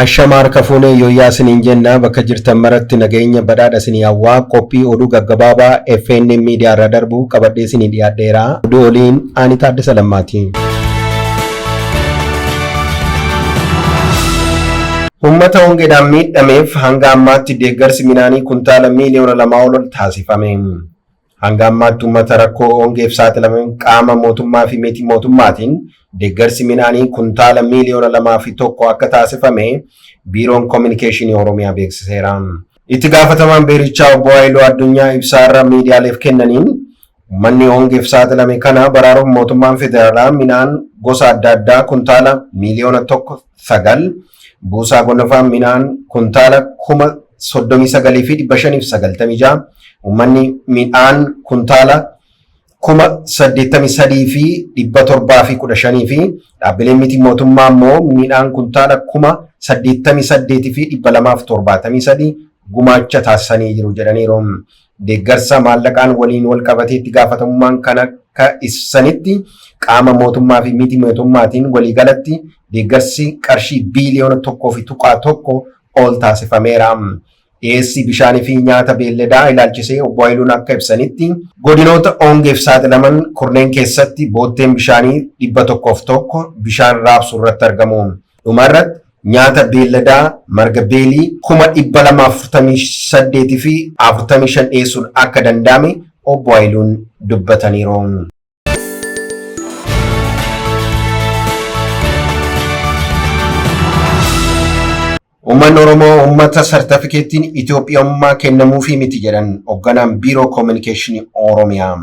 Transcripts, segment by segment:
Ashama harka fuune yoyyaa isiniin jenna bakka jirtan maratti nageenya badhaadha isinii hawwaa qophii oduu gaggabaabaa FNN miidiyaa irraa darbu qabadhee isinii dhiyaadheera. Oduu oliin Aanii Taaddasa Lammaati. Ummata hongeedhaan miidhameef hanga ammaatti deeggarsi midhaanii kuntaala miiliyoona lamaa ol taasifame. Hanga ammaatti ummata rakkoo hongeef saaxilame qaama mootummaa fi miti mootummaatiin deeggarsi midhaanii kuntaala miiliyoona lamaa fi tokko akka taasifame Biiroon Kominikeeshinii Oromiyaa beeksiseera. Itti gaafatamaan biirichaa obbo Haayiluu Addunyaa ibsaa har'a miidiyaaleef kennaniin ummanni hongeef saaxilame kana baraaruuf mootummaan federaalaa midhaan gosa adda addaa kuntaala miiliyoona 1 9, buusaa gonofaa midhaan kuntaala kuma 39 fi 596, ummanni midhaan kuntaala kuma 83 fi 715 fi dhaabbileen miti mootummaa immoo midhaan kuntaala kuma 88 fi 273 gumaacha taasisanii jiru jedhaniiru. Deeggarsa maallaqaan waliin wal qabatee itti gaafatamummaan kan akka ibsanitti qaama mootummaa fi miti mootummaatiin waliigalatti deeggarsi qarshii biiliyoona tokkoo fi tuqaa tokko ol taasifameera. Dhiyeessii bishaanii fi nyaata beelladaa ilaalchisee obbo Hayiluun akka ibsanitti godinoota ongeef saaxilaman kurneen keessatti bootteen bishaanii dhibba tokkoof tokko bishaan raabsuu irratti argamu. Dhuma irratti nyaata beelladaa marga beelii kuma dhibba lama afurtamii saddeetii fi afurtamii shan dhiyeessuun akka danda'ame obbo Hayiluun dubbataniiru. Uummanni Oromoo uummata sartifikeettiin Itoophiyummaa kennamuufii miti jedhan hoogganaan Biiroo Koominikeeshinii Oromiyaa.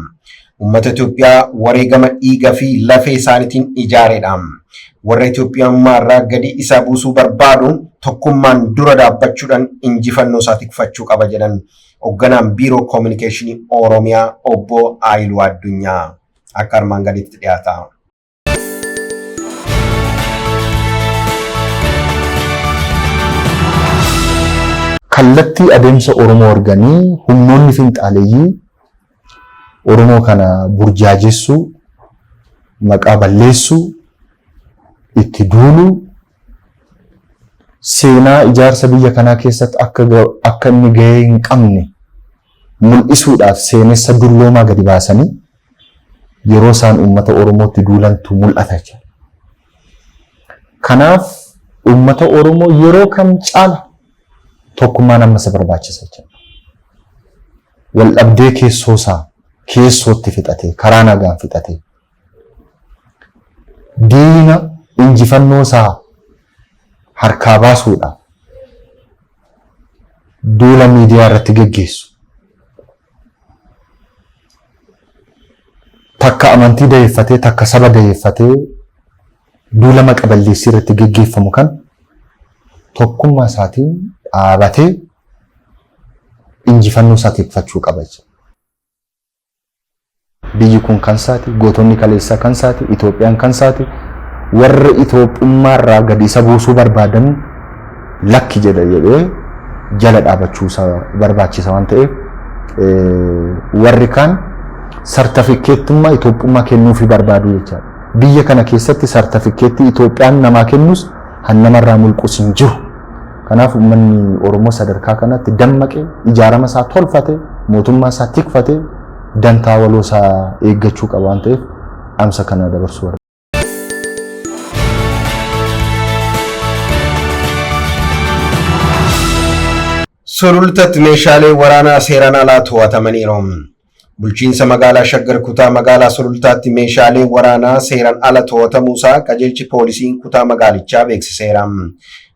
Uummata Itoophiyaa wareegama dhiiga fi lafee isaaniitiin ijaareedha. Warra Itoophiyummaa irraa gadi isa buusuu barbaadu tokkummaan dura dhaabbachuudhaan injifannoo isaa tikfachuu qaba jedhan Hogganaan Biiroo Koominikeeshinii Oromiyaa Obbo Aayiluu Addunyaa akka armaan gaditti dhiyaata. Kallattii adeemsa Oromoo arganii humnoonni finxaaleyyii Oromoo kana burjaajessuu, maqaa balleessuu, itti duuluu, seenaa ijaarsa biyya kanaa keessatti akka akka inni gahee hin qabne mul'isuudhaaf seenessa dulloomaa gadi baasanii yeroo isaan uummata Oromootti duulantu mul'ata jira. Kanaaf uummata Oromoo yeroo kam caala tokkummaan amma isa barbaachisa jira. waldhabdee keessoosaa keessootti fixatee, karaa nagaan fixatee, diina injifannoosaa harkaa baasuudhaaf duula miidiyaa irratti geggeessu, takka amantii dayeeffatee, takka saba dayeeffatee duula maqa balleessii irratti geggeeffamu kan tokkummaa isaatiin dhaabatee injifannoo isaa tikfachuu qaba jechuudha. Biyyi kun kan isaati, gootonni kaleessaa kan isaati, Itoophiyaan kan isaati. Warra Itoophummaa irraa gadi isa buusuu barbaadan lakki jedha jedhee jala dhaabachuu isaa barbaachisa waan ta'eef warri kaan sartifikeettummaa Itoophummaa kennuufii barbaadu jechaadha. Biyya kana keessatti sartifikeettii Itoophiyaan namaa kennus han namarraa mulqus hin jiru. Kanaaf uummanni Oromoo sadarkaa kanatti dammaqee ijaarama isaa tolfatee mootummaa isaa tikfatee dantaa waloo isaa eeggachuu qaba waan ta'eef dhaamsa kana dabarsuu barbaada. Sulultatti meeshaalee waraanaa seeraan alaa to'atamaniiru. Bulchiinsa Magaalaa Shaggar Kutaa Magaalaa Sulultaatti meeshaaleen waraanaa seeran ala to'atamuusaa qajeelchi poolisiin kutaa magaalichaa beeksiseera.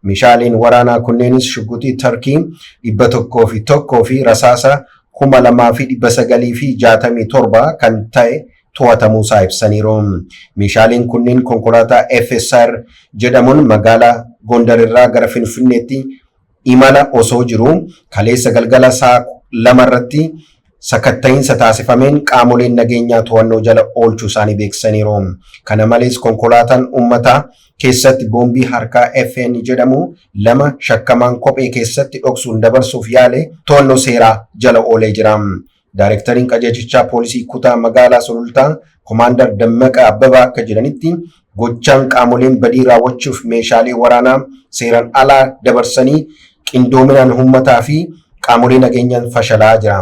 Meeshaaleen waraanaa kunneenis shugguxii Tarkii 101 fi rasaasa 2967 kan ta'e to'atamuusaa ibsaniiru. Meeshaaleen kunneen konkolaataa FSR jedhamuun magaalaa Gondar irraa gara Finfinneetti imala osoo jiruu kaleessa galgala saa 2:00 irratti sakatta'iinsa taasifameen qaamoleen nageenyaa to'annoo jala oolchuu isaanii beeksisaniiru. Kana malees konkolaataan uummataa keessatti boombii harkaa FN jedhamu lama shakkamaan kophee keessatti dhoksuun dabarsuuf yaale to'annoo seeraa jala oolee jira. Daarektariin qajeelchichaa poolisii kutaa magaalaa Sulultaa Komaandar Dammaqaa Abbabaa akka jedhanitti gochaan qaamoleen badii raawwachuuf meeshaalee waraanaa seeran alaa dabarsanii qindoominaan uummataa fi qaamolee nageenyaan fashalaa jira.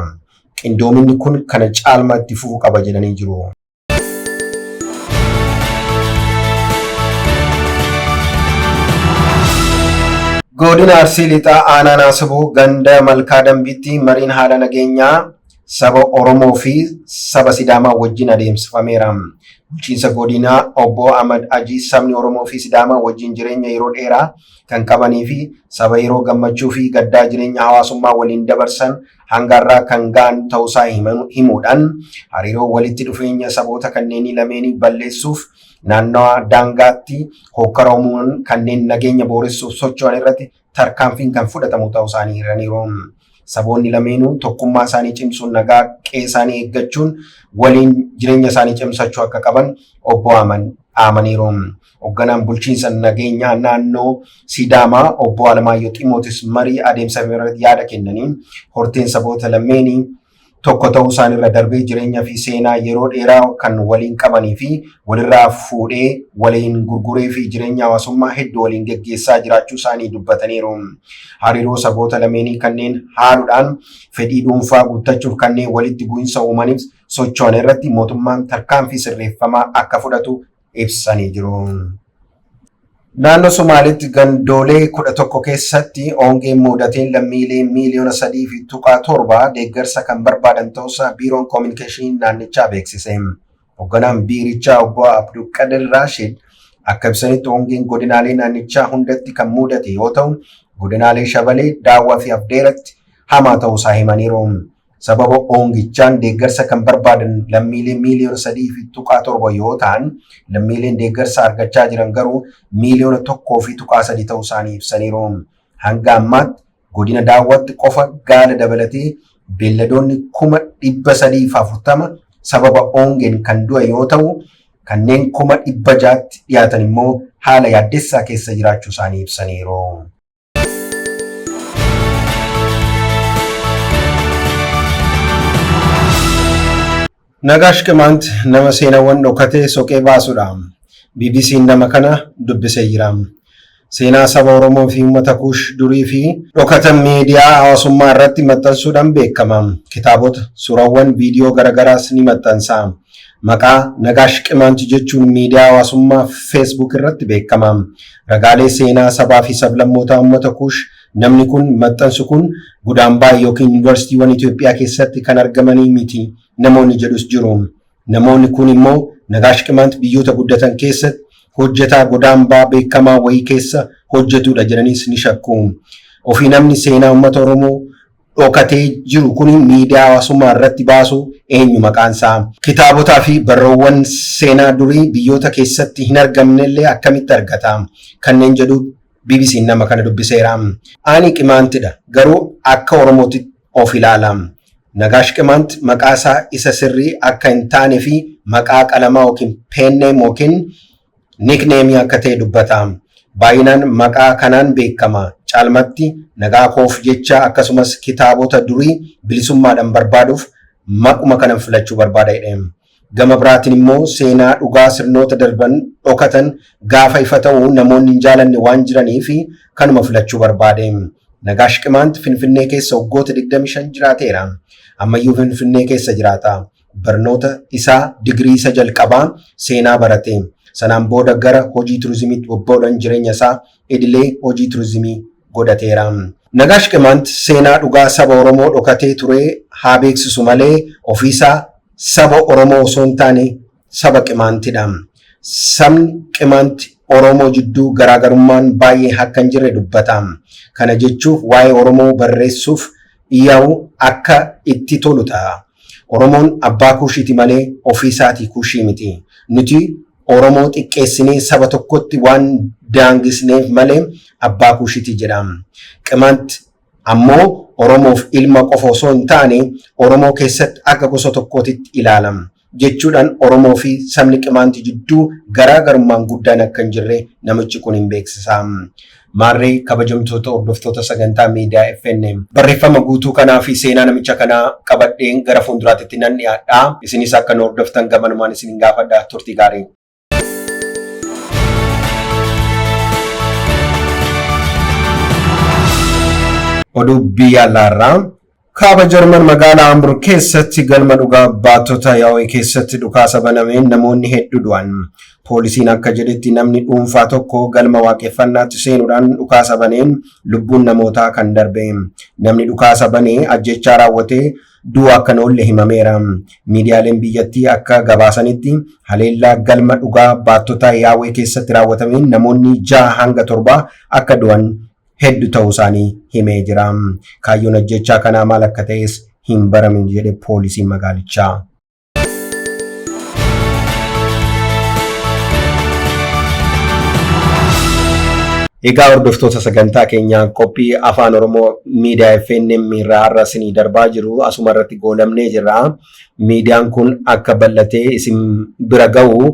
Qindoominni kun kana caalmaa itti fufu qaba jedhanii jiru. Godina Arsii Lixaa Aanaa Naasibuu ganda Malkaa Dambiitti mariin haala nageenyaa saba Oromoo fi saba Sidaamaa wajjin adeemsifameera. Bulchiinsa godinaa obbo Ahmad Ajii sabni Oromoo fi Sidaamaa wajjin jireenya yeroo dheeraa kan qabanii fi saba yeroo gammachuu fi gaddaa jireenya hawaasummaa waliin dabarsan hanga har'aa kan ga'an ta'uusaa himan- himuudhaan hariiroo walitti dhufeenya saboota kanneenii lameenii balleessuuf naannawaa daangaatti hookkara uumuun kanneen nageenya booressuuf socho'an irratti tarkaanfiin kan fudhatamu ta'uu isaanii himaniiru. Saboonni lameenuu tokkummaa isaanii cimsuun nagaa qe'ee isaanii eeggachuun waliin jireenya isaanii cimsachuu akka qaban obbo Aman dhaamaniiru. Hogganaan bulchiinsa nageenyaa naannoo Sidaamaa obbo Alamaayyoo Ximootis marii adeemsa irratti yaada kennaniin horteen saboota lammeenii tokko ta'uu isaanirra darbee jireenya fi seenaa yeroo dheeraa kan waliin qabanii fi walirraa fuudhee waliin gurguree fi jireenya hawaasummaa hedduu waliin geggeessaa jiraachuu isaanii dubbataniiru. Hariiroo saboota lameenii kanneen haaluudhaan fedhii dhuunfaa guuttachuuf kanneen walitti bu'insa uumaniif socho'an irratti mootummaan tarkaanfii sirreeffamaa akka fudhatu ibsanii jiru. Naannoo Somaaliitti gandoolee kudha tokko keessatti hongeen muudateen lammiilee miiliyoona sadii fi tuqaa torba deeggarsa kan barbaadan ta'uusaa Biiroon Koominikeeshinii naannichaa beeksise. Hogganaan biirichaa obbo Abdulqadir Raashid akka ibsanitti hongeen godinaalee naannichaa hundatti kan muudate yoo ta'u, godinaalee Shabalee, Daawwaa fi Afdeeratti hamaa ta'uusaa himaniiru. Sababa ongichaan deeggarsa kan barbaadan lammiilee miiliyoona 3.7 yoo ta'an, lammiileen deeggarsa argachaa jiran garuu miiliyoona 1.3 ta'uu isaanii ibsaniiru. Hanga ammaatti godina Daawwaatti qofa gaala dabalatee beelladoonni kuma 340 sababa ongeen kan du'e yoo ta'u, kanneen kuma 600tti dhiyaatan immoo haala yaaddessaa keessa jiraachuu isaanii ibsaniiru. Nagaash Qimaant nama seenaawwan dhokatee soqee baasudha. BBC'n nama kana dubbisee jira. Seenaa saba Oromoo fi uummata Kuush durii fi dhokatan miidiyaa hawaasummaa irratti maxxansuudhaan beekama. Kitaabota, suuraawwan, viidiyoo garaagaraas ni maxxansa. Maqaa Nagaash Qimaant jechuun miidiyaa hawaasummaa Facebook irratti beekama. Ragaalee seenaa sabaa fi sablammootaa ummata Kuush Namni kun, maxxansu kun, Gudaambaa ykn Yuunivarsiitiiwwan Itoophiyaa keessatti kan argamanii miti namoonni jedhus jiru. Namoonni kuun immoo Nagaash Qimant biyyoota guddatan keessatti hojjetaa Godaambaa beekamaa wayii keessa hojjetuudha jedhaniis ni shakku. Ofii namni seenaa ummata Oromoo. dhokatee jiru kun miidiyaa hawaasummaa irratti baasu eenyu maqaan isaa? Kitaabotaa fi barroowwan seenaa durii biyyoota keessatti hin argamne illee akkamitti argata? Kanneen jedhu BBCn nama kana dubbiseera. Ani Qimaantidha, garuu akka Oromootti of ilaala. Nagaash Qimaant maqaa isaa isa sirrii akka hin taane fi maqaa qalamaa yookiin pen name yookiin Nickname akka ta'e dubbata. Baay'inaan maqaa kanaan beekama. Caalmatti nagaa koof jecha akkasumas kitaabota durii bilisummaadhan barbaaduuf maquma kanan filachuu barbaada jedhe. Gama biraatin immoo seenaa dhugaa sirnoota darban dhokatan gaafa ifa ta'u namoonni hin jaalanne waan jiraniif kanuma filachuu barbaade. Nagaash Qimaant Finfinnee keessa waggoota 25 jiraateera. Ammayyuu Finfinnee keessa jiraata. Barnoota isaa digirii isa jalqabaa seenaa barate. Sanaan booda gara hojii turizimiitti bobba'uudhan jireenya isaa idilee hojii turizimii godhateera. Nagaash Qimaant seenaa dhugaa saba Oromoo dhokatee ture haa beeksisu malee ofii isaa saba Oromoo osoo hin taane saba Qimaantidha. Sabni Qimaant Oromoo jidduu garaagarummaan baay'ee akka hin jirre dubbata. Kana jechuuf waa'ee Oromoo barreessuuf dhiyaa'u akka itti tolu ta'a. Oromoon abbaa kuushiiti malee ofii isaatii kuushii miti. Nuti Oromoo xiqqeessinee saba tokkotti waan daangisneef malee abbaa kuushiti jedha. Qimant ammoo Oromoof ilma qofa osoo hin taane Oromoo keessatti akka gosa tokkootitti ilaala. Jechuudhaan Oromoo fi sabni Qimaanti jidduu garaa garummaan guddaan akka hin jirre namichi kun hin beeksisa. Maarree kabajamtoota hordoftoota sagantaa miidiyaa FNM barreeffama guutuu kanaa fi seenaa namicha kanaa qabadheen gara fuulduraatitti nan dhiyaadha. Isinis akka nu hordoftan gamanumaan isin gaafadha turtii gaarii. Oduu biyya alaarraa Kaaba Jarman magaala Hamburg keessatti galma dhugaa baattota Yahweh keessatti dhukaasa banameen namoonni heddu du'an. Poolisiin akka jedhetti namni dhuunfaa tokko galma waaqeffannaatti seenuudhaan dhukaasa baneen lubbuun namootaa kan darbe. Namni dhukaasa banee ajjechaa raawwate du'u akka hin oolle himameera. Miidiyaaleen biyyattii akka gabaasanitti haleellaa galma dhugaa baattota Yahweh keessatti raawwatameen namoonni jaha hanga torbaa akka du'an heddu ta'uu isaanii himee jira. Kaayyoon ajjechaa kanaa maal akka ta'es hin baramin jedhe poolisiin magaalichaa. Egaa hordoftoota sagantaa keenyaa qophii afaan Oromoo miidiyaa FNM irraa har'a isinii darbaa jiru asuma irratti goolabnee jirra. Miidiyaan kun akka bal'atee isin bira ga'u